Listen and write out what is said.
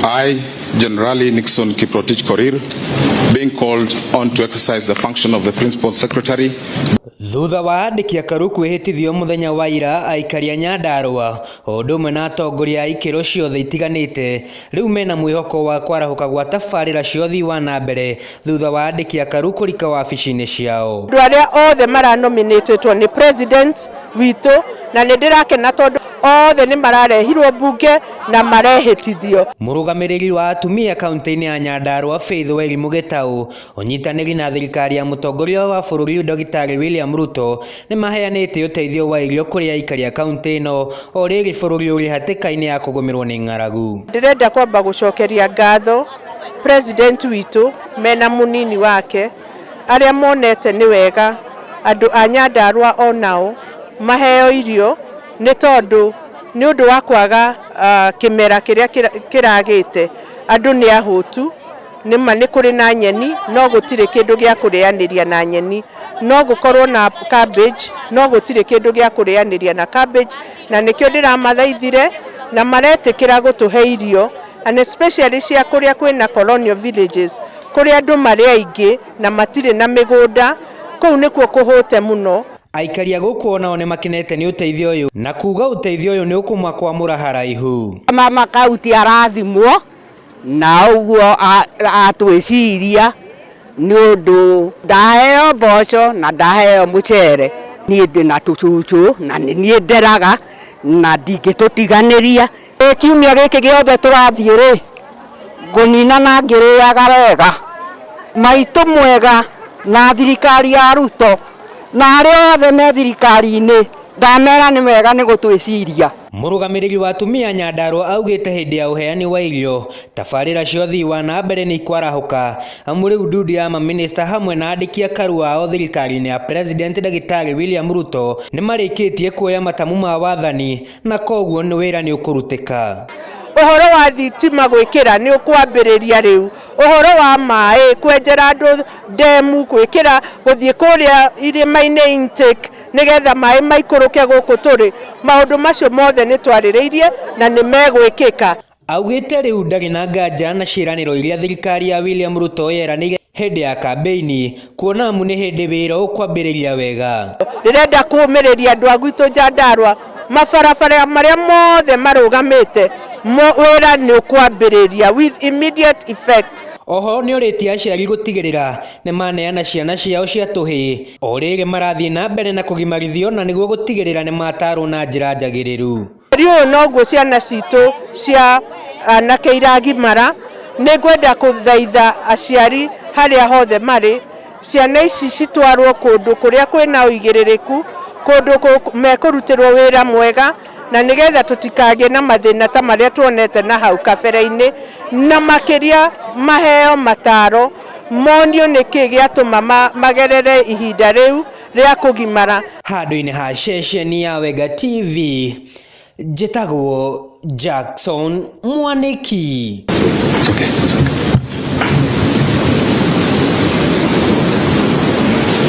I, Generali Nixon Kiprotich Korir, being called on to exercise the function of the Principal Secretary Thutha wa andĩki akaru kwĩhĩtithio mũthenya wa ira aikari a Nyandarua o ũndũ ũmwe na atongoria a ikĩro ciothe itiganĩte rĩu mena mwĩhoko wa kwarahũka gwa tabarĩra cia ũthii wa na mbere thutha wa andĩki a Karu kũrika wabici-inĩ ciao. Andũ arĩa othe mara nominatetwo nĩ president witũ na nĩ ndĩrakena tondũ othe nĩ mararehirwo mbunge na marehĩtithio. Mũrũgamĩrĩri wa atumia kaũntĩ-inĩ ya Nyandarua Faith Wairimu Gĩtaũ ũnyitanĩri na thirikari ya mũtongoria wa bũrũri Ndagĩtarĩ William Ruto nĩ maheanĩte ũteithio wa irio kũrĩ aikari a kaũntĩ ĩno o rĩrĩ bũrũri ũrĩ hatĩka-inĩ ya kũgũmĩrwo nĩ ng'aragu. Ndĩrenda kwamba gũcokeria ngatho President witũ mena mũnini wake arĩa monete nĩ wega andũ a Nyandarua o nao maheo irio nĩ tondũ nĩ ũndũ wa kwaga ah, kĩmera kĩrĩa kĩra- kĩragĩte andũ nĩ ahũtu nĩ ma nĩ kũrĩ na nyeni no gũtirĩ kĩndũ gĩa kũrĩanĩria na nyeni no gũkorwo na cabbage no gũtirĩ kĩndũ gĩa kũrĩanĩria na cabbage na nĩkĩo ndĩramathaithire na maretĩkĩra gũtũhe irio and especially cia kũrĩa kwĩna colonial villages kũrĩa andũ marĩ aingĩ na matirĩ na mĩgũnda, kũu nĩkuo kũhũte mũno. Aikari a gũkũ o nao nĩ makenete nĩ ũteithio ũyũ na kuuga ũteithio ũyũ nĩ ũkũmakwamũra haraihu. Mama kauntĩ arathimwo na ũguo atwĩciria nĩ ũndũ ndaheo mboco na ndaheo mũcere. Niĩ ndĩ na tũcũcũ na nĩ niĩ nderaga na ndingĩtũtiganĩria. Ĩ kiumia gĩkĩ gĩothe tũrathiĩ rĩ, ngũnina na ngĩrĩaga wega. Maitũ mwega na thirikari ya Ruto na arĩa othe me thirikari-inĩ ndamera nĩ wega nĩ gũtwĩciria. Mũrũgamĩrĩri wa atumia Nyandarua augĩte hĩndĩ ya ũheani wa irio, tabarĩra cia ũthii wa na mbere nĩikwarahũka amu rĩu ndundi ya mamĩnĩsta hamwe na andĩki a karua ao thirikari-inĩ ya President Ndagĩtarĩ William Ruto nĩmarĩkĩtie kuoya matamu ma wathani. Na koguo nĩ wĩra nĩ ũkũrutĩka. Ũhoro wa thitima gwĩkĩra nĩ ũkwambĩrĩria rĩu. Ũhoro wa maĩ, kwenjera andũ ndemu, gwĩkĩra, gũthiĩ kũrĩa irĩma-inĩ intake, nĩgetha maĩ maikũrũke gũkũ tũrĩ, maũndũ macio mothe nĩ twarĩrĩirie na nĩ megwĩkĩka. Augĩte rĩu ndarĩ na nganja na ciĩranĩro iria thirikari ya William Ruto yeranĩire hĩndĩ ya kambeini kuona amu nĩ hĩndĩ wĩra ũkwambĩrĩria wega. Ndĩrenda kũũmĩrĩria andũ a gwitũ Nyandarua, mabarabara marĩa mothe marũgamĩte wĩra nĩ ũkwambĩrĩria with immediate effect. Oho nĩorĩtie aciari gũtigĩrĩra nĩmaneana ciana ciao cia tũhĩ o rĩrĩ marathiĩ na mbere na kũgimarithio na nĩguo gũtigĩrĩra nĩmatarwo na njĩra njagĩrĩru. Mweri ũyũ noguo ciana citũ cia anake iragimara. Nĩ ngwenda kũthaitha aciari harĩa hothe marĩ, ciana ici citwarwo kũndũ kũrĩa kwĩna ũigĩrĩrĩku, kũndũ mekũrutĩrwo wĩra mwega, na nĩgetha tũtikagĩe na mathĩna ta marĩa tuonete na hau kabere-inĩ. Na makĩria maheo mataro, monio nĩkĩ gĩatũma magerere ihinda rĩu. rĩa kũgimara. Handũ-inĩ ha ceceni ya Wega TV, njĩtagwo Jackson Mwanĩki.